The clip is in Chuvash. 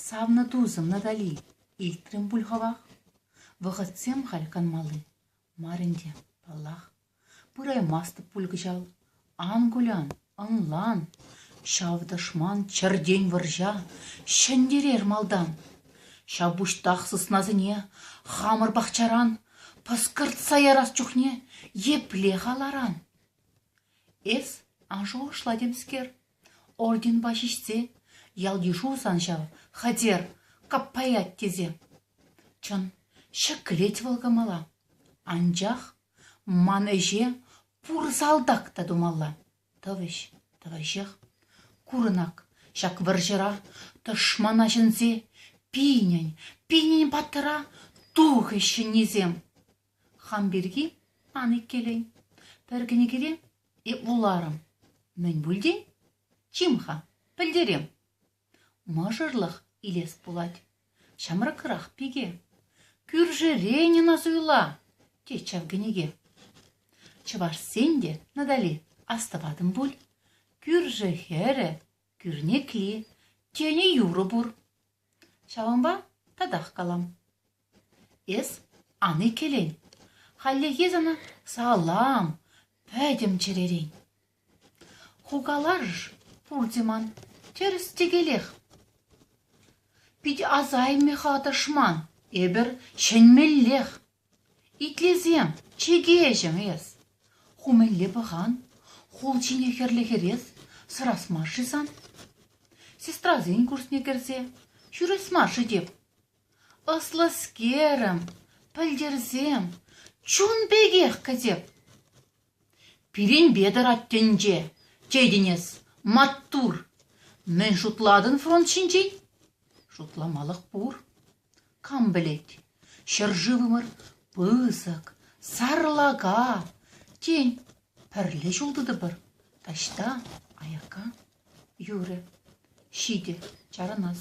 Савнӑ тусӑм Натали, илтрӗм пуль хӑвах? Вӑхӑтсем халь канмалли мар ӗнтӗ, паллах. Пыраймастӑп пуль кӑҫал. Ан кулян, ӑнлан, ҫав тӑшман чӗртен вӑрҫа ҫӗнтерер малтан. Ҫапуҫтах сыснасене хамӑр пахчаран пӑскӑртса ярас чухне епле халаран? Эс ан шухӑшла темскер, орденпа ҫиҫсе ял-йышу сан ҫав, хатер, каппаять тесе. Чӑн, ҫӗклет вӑл кӑмӑла. Анчах ман ӗҫе Пур салтак та тумалла. Тӑвӗҫ, тӑвӗҫех. Курӑнак, ҫак вӑрҫӑра тӑшмана ҫӗнсе пинӗн, пинӗн паттӑра тухӗҫ ҫӗннисем. Хам пирки ан иккелен. Пӗр кӗнекере эп вуларӑм. Мӗн пултин? Чим-ха, пӗлтерем. Мӑшӑрлӑх илес пулать. Ҫамрӑкрах пике. Кӳршӗ Ленина суйла, тет ҫав кӗнеке. Чӑвашсен те, Натали, астӑватӑн пуль. Кӳршӗ хӗрӗ, кӳрнекли, тенӗ юрӑ пур. Ҫавӑнпа татах калам. Эс ан иккӗлен, хальлӗхе сана салам, пӗтӗм чӗререн. Хукаларӑш пурте ман тӗрӗс-тӗкелех. Питӗ асаймӗ-ха тӑшман, эпӗр чӗнмеллех. Итлесем, чӗкеҫӗм эс. Ху мӗнле пӑхан, хул ҫине хӗрлӗ хӗрес сӑрас мар-ши сан? Сестрасен курсне кӗрсе ҫӳрес мар-ши теп? Ӑслӑскерӗм, пӗлтӗрсем чун пекех кӗтеп. Пирӗнпе тӑрать тӗнче, тетӗн эс, маттур. Мӗн шутлатӑн фронт ҫинчен? Шутламалӑх пур. Кам пӗлет, ҫӗршывӑмӑр пысӑк, сарлака. Тен, пӗрле ҫул тытӑпӑр, таҫта, аякка. Юрӗ, ҫитӗ, чарӑнас.